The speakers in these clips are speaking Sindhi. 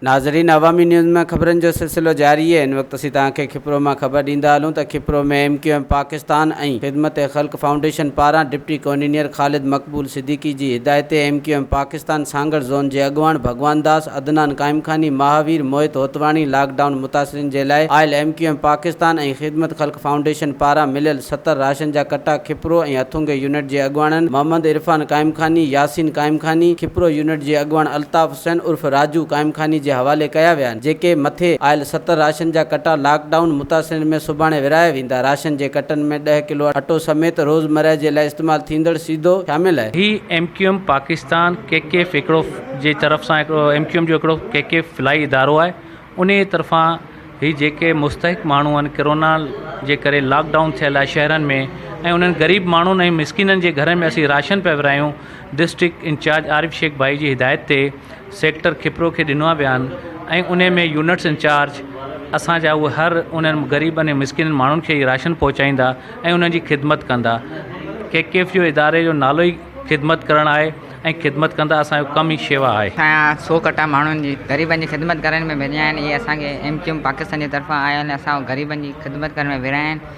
ناظرين عوامي نيوز ۾ خبرن جو سلسلو جاري هي ان وقت اسين توهان کي کپرو مان خبر ڏيندا هلون ته Khipro ۾ M Q M Pakistan ۽ Khidmat Khalq foundation پاران ڊپٽي ڪونينئر خالد مقبول صديقي جي هدايتي M Q M Pakistan Pakistan Sanghar zone جي اڳواڻ ڀڳوان داس، عدنان قائمخاني، مهاوير، موهت هوتواڻي لاڪ ڊائون متاثرين جي لاء آيل M Q M Pakistan ۽ Khidmat Khalq foundation پاران مليل ستر راشن جا ڪٽا کپرو ۽ هٿونگي يونٽ جي اڳواڻن محمد عرفان قائمخاني، ياسين قائمخاني، کپرو يونٽ جي اڳواڻ الطاف حسين عرف راجو قائمخاني جي حوالي ڪيا ويا آهن جيڪي مٿي آيل ستر راشن جا ڪٽا لاڪ ڊائون متاثرين ۾ سڀاڻي ورهايا ويندا. ايندا راشن جي ڪٽن ۾ ڏهه ڪلو اٽو سميت روزمره جي لاء استعمال ٿيندڙ سيدو شامل آهي. هي M Q M Pakistan K K F هڪڙو جي طرف سان هڪڙو ايم ڪيو ايم جو هڪڙو ڪي ڪي ايف فلاحي ادارو آهي انهي جي طرفان هي جيڪي مستحق ماڻهو آهن ڪرونا جي ڪري لاڪ ڊائون ٿيل آهي شهرن ۾ ۽ انهن غريب ماڻهن ۽ مسڪينن جي گهرن ۾ اسين راشن پيا ورهايون ڊسٽرڪٽ انچارج عارف شيخ ڀائي جي هدايت تي سيڪٽر کپرو کي ڏنو آهي بيان ۽ انهي ۾ يونٽس انچارج اسان جا اهي هر انهن غريبن ۽ مسڪين ماڻهن کي راشن پهچائيندا ۽ انهن جي خدمت ڪندا ڪي ڪي ايف جو اداري جو نالو ئي خدمت ڪرڻ آهي ۽ خدمت ڪندا اسان جو ڪم ئي شيوا آهي. اسان جا سو ڪٽا ماڻهن جي غريبن جي خدمت ڪرڻ ۾ ورهايا آهن اهي اسان کي ايم ڪيو ايم پاڪستان جي طرفان آيا آهن ۽ اسان غريبن جي خدمت ڪرڻ ۾ ورهايا آهن.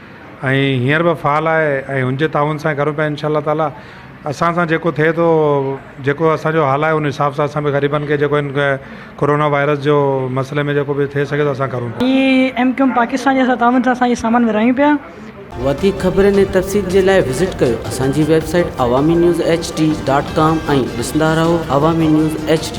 ۽ هينئر به فعال آهي ۽ هن جي تعاون سان ڪريون پيا انشاء الله تعالٰي اسان سان جيڪو ٿئي ٿو جيڪو اسان جو حال آهي ان حساب سان اسان به غريبن کي جيڪو هن ڪورونا وائرس جو مسئلي ۾ جيڪو به ٿئي سگهي ٿو اسان ڪريون پيا. ايم ڪيوم پاڪستان جي تعاون سان اسان هي سامان ورهايون پيا. وڌيڪ خبرن ۽ تفصيل جي لاء وزٽ ڪيو اسان جي website Awami news H D dot com ۽ ڏسندا رهو عوامي نيوز ايڇ ڊي.